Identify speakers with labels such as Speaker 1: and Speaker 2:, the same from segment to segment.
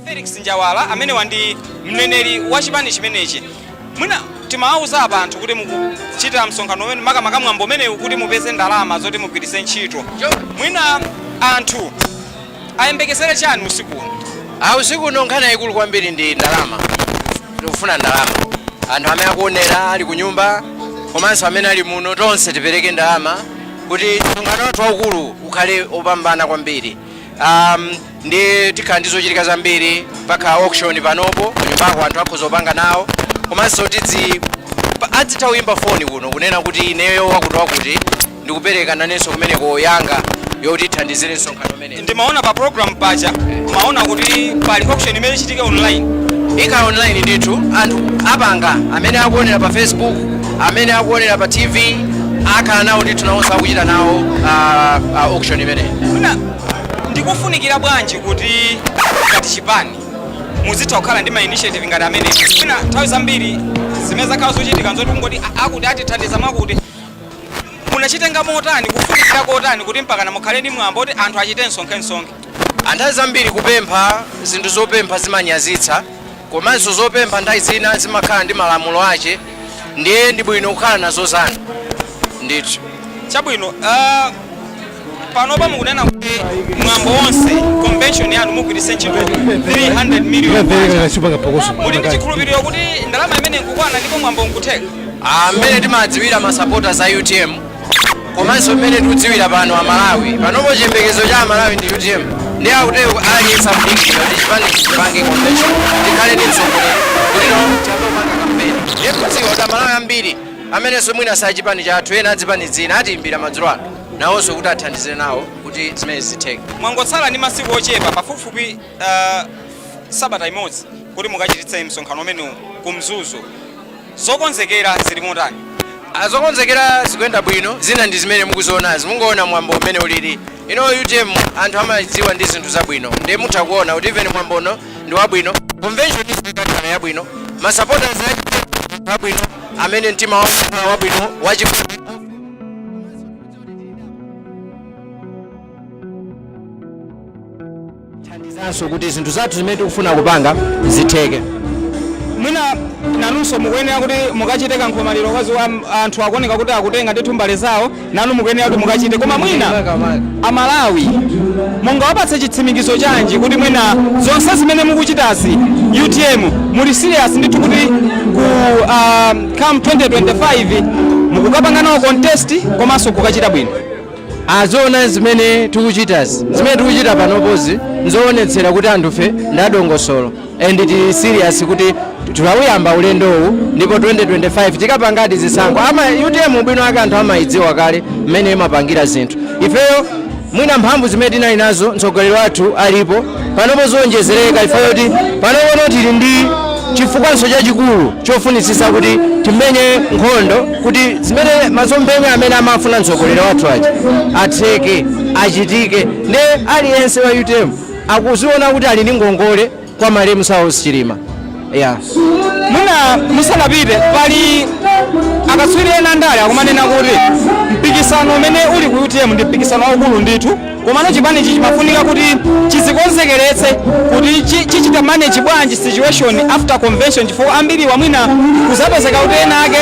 Speaker 1: Felix Njawala amenewa ndi mneneri wa chipani chimenechi mwina timawauza apa anthu kuti mukuchita msonkhano umene makamaka mwambo umenewu kuti mupeze ndalama zoti mugwiritse ntchito mwina anthu ayembekezere chani usiku uno Ah, usiku uno nkhani yayikulu
Speaker 2: kwambiri ndi ndalama tikufuna ndalama anthu amene akuonera ali ku nyumba komanso amene ali muno tonse tipereke ndalama kuti msonkhano wathu waukulu ukhale opambana kwambiri um, ndi tikhala ndi zochitika zambiri mpaka auction panopo kunyumbako anthu akhoza kupanga nawo komanso tidzi pa- adzitha kuyimba foni kuno kunena kuti ineyo wakuti wakuti ndikupereka nanenso kumeneko yanga yoti ithandizire msonkhano umene- ndimaona pa
Speaker 1: program paja ndimaona kuti pali auction imene ichitike online ikhala
Speaker 2: online ndithu anthu apanga amene akuonera pa facebook amene akuonera pa tv akhala nawo ndithu nawonso akuchita nawo ah, ah, auction imeneyi Mwina ndikufunikira bwanji kuti ngati chipani muzitha kukhala ndi ma initiative ngati amene mwina nthawi zambiri zimene zakhala zochitika nzoti kungoti a- akuti atithandiza mwakuti Munachitenga motani? Kufunikira kotani kuti mpakana mukhale ndi mwambo kuti anthu achite msonkhe-msonkhe? a Nthawi zambiri kupempha zinthu zopempha zimanyazitsa komanso zopempha nthawi zina zimakhala ndi malamulo ache ndiye ndi bwino kukhala nazo zanu ndithu. Chabwino. panopa mukunena kuti mwambo wonse convention yanu mugwiritse ntchito 300 million kwacha. muli ndi chikhulupiriro kuti ndalama imene nkukwana ndipo mwambo nkutheka Ah, mmene timadziwira masapota a utm komanso mmene tikudziwira pano amalawi panopo chiyembekezo cha amalawi ndi utm ndi akuti aliyense akudikira kuti chipani chipange convention tikhale ndi mtsogoleri kuti tiyambe kupanga kampeni ndiye kudziwa kuti amalawi ambiri amenenso mwina sa chipani chathu ena a zipani zina atiimbira madzulo ano nawonso kuti athandizire nawo kuti zimenezi zitheke. Mwangotsala ndi masiku ochepa pafupifupi uh, sabata imodzi kuti mukachititse msonkhano umenewu ku Mzuzu, zokonzekera zili motani? Ah, zokonzekera zikuyenda bwino, zina ndi zimene mukuzionazi, mungoona mwambo umene ulili. Ino UTM anthu amaidziwa ndi zinthu zabwino, ndiye mutha kuona kuti even mwambo uno ndi wabwino, convention ikakhala yabwino, masapota abwino, amene mtima wawo wabwino, wachikondi thandizanso kuti zinthu zathu zimene tikufuna kupanga zitheke mwina nanunso mukuyenera kuti mukachite kankhomaliro kwazi anthu akuoneka kuti akutenga ndithu mbale zawo nanu mukuyenera kuti mukachite koma mwina amalawi mungawapatse chitsimikizo chanji kuti mwina zonse zimene mukuchitazi utm muli serious ndithu kuti ku ah, come 2025 mukukapanga nawo contest komanso kukachita bwino aziona zimene tikuchitazi zimene tikuchita panopozi nzoonetsera kuti anthufe ndi adongosolo and tili serious kuti tinauyamba ulendowu ndipo 2025 tikapangadi zisankho ama utm ubwino wake anthu amayidziwa kale mmene imapangira zinthu ifeyo mwina mphamvu zimene tinali nazo mtsogoleri wathu alipo panopo ziwonjezereka chifukwa choti panopono tili ndi chifukwanso chachikulu chofunitsitsa kuti timenye nkhondo kuti zimene masomphenya amene amafuna mtsogoleri wathu aja atheke achitike nde aliyense wa utm akuziona kuti ali ndi ngongole kwa malemu saulos chilima Yeah. Mwina musanapite pali akatswiri ena andale akumanena kuti mpikisano umene uli ku utm ndi mpikisano waukulu ndithu komano chipani ichi chimafunika kuti chizikonzekeretse kuti chi- chichita manage bwanji situation after convention chifukwa ambiri mwina kuzapezeka kuti ena ake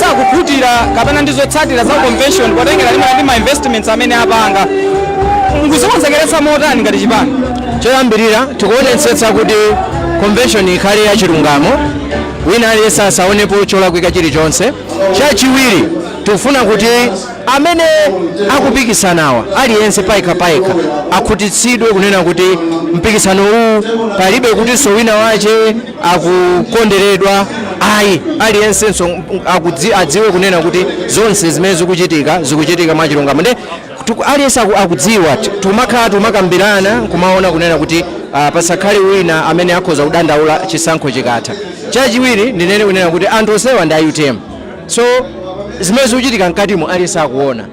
Speaker 2: sakukhutira kapena ndi zotsatira za convention potengera ndimene ndi ma investments amene apanga mukuzikonzekeretsa motani ngati chipani choyambirira tikuonetsetsa kuti convention ikhale ya chilungamo wina aliyense asaonepo cholakwika chilichonse chachiwiri tikufuna kuti amene akupikisanawa aliyense payekha payekha akhutitsidwe kunena kuti mpikisano uwu palibe kutinso wina wache akukonderedwa ayi aliyensenso adziwe kunena kuti zonse zimene zikuchitika zikuchitika mwachilungamo nde Aliyense akudziwa timakhala timakambirana kumaona kunena kuti pasakhale wina amene akhoza kudandaula chisankho chikatha. Chachiwiri ndinene kunena kuti anthu onsewa ndi a utm so zimene zikuchitika mkatimo aliyense akuona.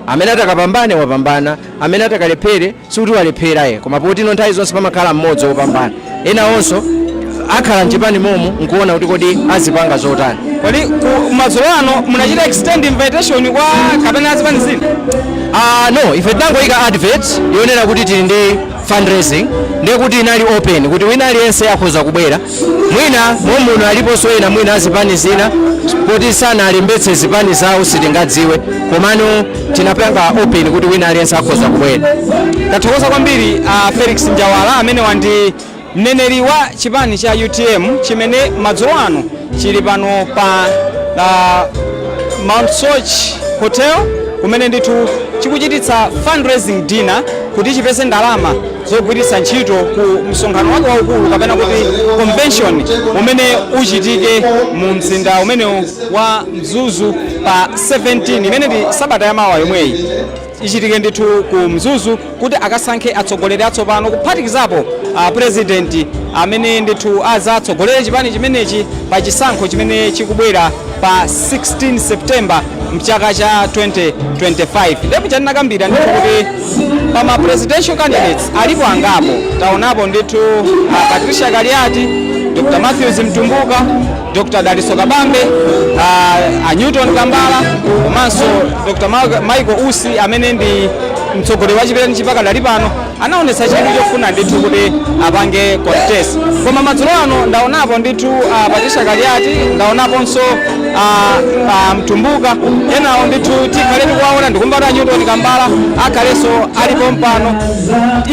Speaker 2: Amene atakapambane wapambana, amene atakalephere. sikuti walephera ayi koma poti no nthawi zonse pamakhala mmodzi wopambana ena onse akhala mchipani momo nkuona kuti kodi azipanga zotani kodi madzulo ano munachita extend invitation kwa kapena azipani zina Ah, no ife tinangoyika advert yonena kuti tili
Speaker 3: ndi fundraising ndiye kuti inali open kuti wina aliyense akhoza kubwera mwina momuno aliponso ena mwina azipani zina poti sanalembetse zipani zawo sitingadziwe komano tinapanga open kuti wina aliyense akhoza kubwera tathokoza
Speaker 2: kwambiri a felix njawala amene ndi mneneri wa chipani cha utm chimene madzulo ano chili pano pa uh, mount soche hotel kumene ndithu chikuchititsa fundraising dinner kuti chipeze ndalama zogwiritsa ntchito ku msonkhano wake waukulu kapena kuti convention umene uchitike mu mzinda umene wa mzuzu pa 17 imene ndi sabata ya mawa yomweyi ichitike ndithu ku mzuzu kuti akasankhe atsogoleri atsopano kuphatikizapo a president amene ndithu azatsogolere chipani chimenechi pa chisankho chimene chikubwera pa 16 september mchaka cha 2025 ndipo chatinakambira ndithu kuti pa ma presidential candidates alipo angapo taonapo ndithu a patricia kaliati dr matthews mtumbuka Dr. Dalitso Kabambe, uh, a Newton Kambala komanso Dr. Ma- Michael Usi amene ndi mtsogoleri wa chipanichi pakadali pano anaonetsa chidwi chofuna ndithu kuti apange contest koma madzulo ano ndaonapo ndithu uh, Patricia Kaliati ndaonaponso uh, a Mtumbuka enawo ndithu tikhale tikuwaona ndikumva kuti a Newton Kambala akhalenso ali pompano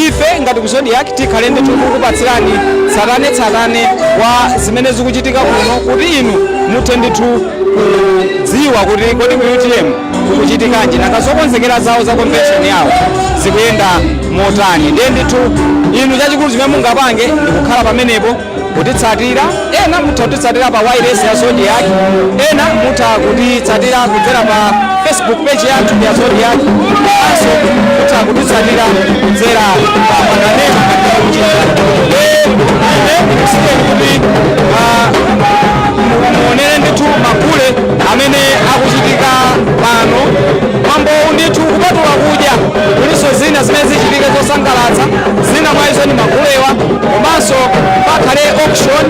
Speaker 2: ife ngati ku zodiak tikhale ndithu tikukupatsirani tsatanetsatane wa zimene zikuchitika kuno kuti inu muthe ndithu kudziwa kuti kodi ku utm kukuchitikanji nanga zokonzekera zawo za convention yawo zikuyenda motani ndiye ndithu inu chachikulu chimene mungapange ndikukhala pamenepo kutitsatira ena mutha kutitsatira pa wailesi ya zodiak ena mutha kutitsatira kudzera pa facebook page yathu ya zodiak komanso mutha kutitsatira kudzera pa makanema kuti muonere ndithu magule amene akuchitika pano mwambowu ndithu kupatula kudya kulinso zina zimene zichitike zosangalatsa zina mwa izo ni magulewa komanso pakhale auction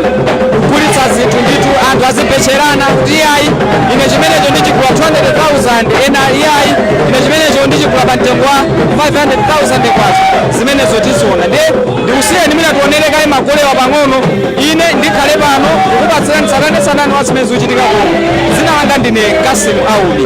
Speaker 2: kugulitsa zinthu ndithu anthu azibetcherana kuti iyayi ine chimenecho ndichigula 200,000 ena iyayi ine chimenecho ndichigula pa mtengo wa 500,000 kwacha zimenezo tiziona ndiye ndikusiyeni mwina tionere kaye magulewa pang'ono ine ndikhale pano kukupatsirani tsatanetsatane wa zimene zikuchitika kuno dzina langa ndine cassim aubi